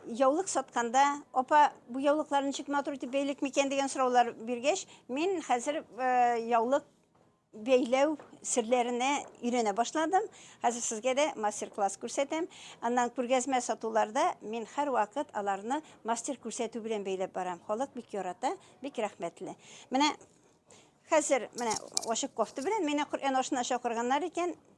яулык сатканда, апа, бу яулыклар ничек матур итеп бәйлик микән дигән сораулар биргәч, мин хәзер э, яулык бәйләү серләренә өйрәнә башладым. Хәзер сезгә дә мастер-класс күрсәтәм. Аннан күргәзмә сатуларда мин һәр вакыт аларны мастер күрсәтү белән бәйләп барам. Халык бик ярата, бик рәхмәтле. Менә хәзер менә ачык кофта белән мине Коръән ашына чакырганнар икән.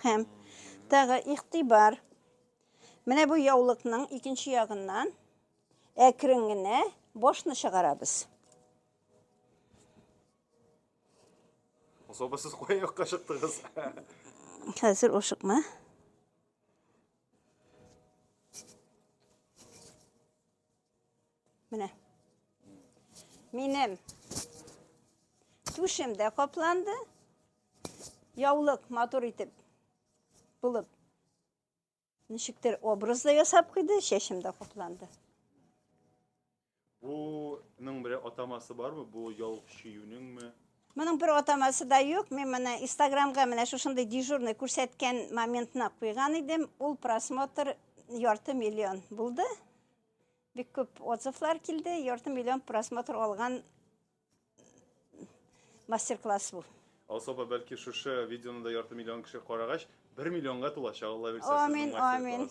Һәм тагы игътибар. Менә бу яулыкның икенче ягыннан әкрен генә башны чыгарабыз. Особо сез кая якка чыктыгыз? Хәзер ошыкма. Менә. Минем түшем дә капланды. Яулык матур итеп булып ничектер образ да ясап куйды, чәчем дә капланды. Буның бер атамасы бармы? Бу яулык чөюнеңме? Моның бер атамасы да юк. Мин менә Инстаграмга менә шушындый дежурный күрсәткән моментны куйган идем. Ул просмотр ярты миллион булды. Бик күп отзывлар килде, ярты миллион просмотр алган мастер-класс бу. Особо бәлки шушы видеоны да ярты миллион кеше карагач, бер миллионга тулачак, Алла бирсә, сезнең мастер-класс. Амин, амин.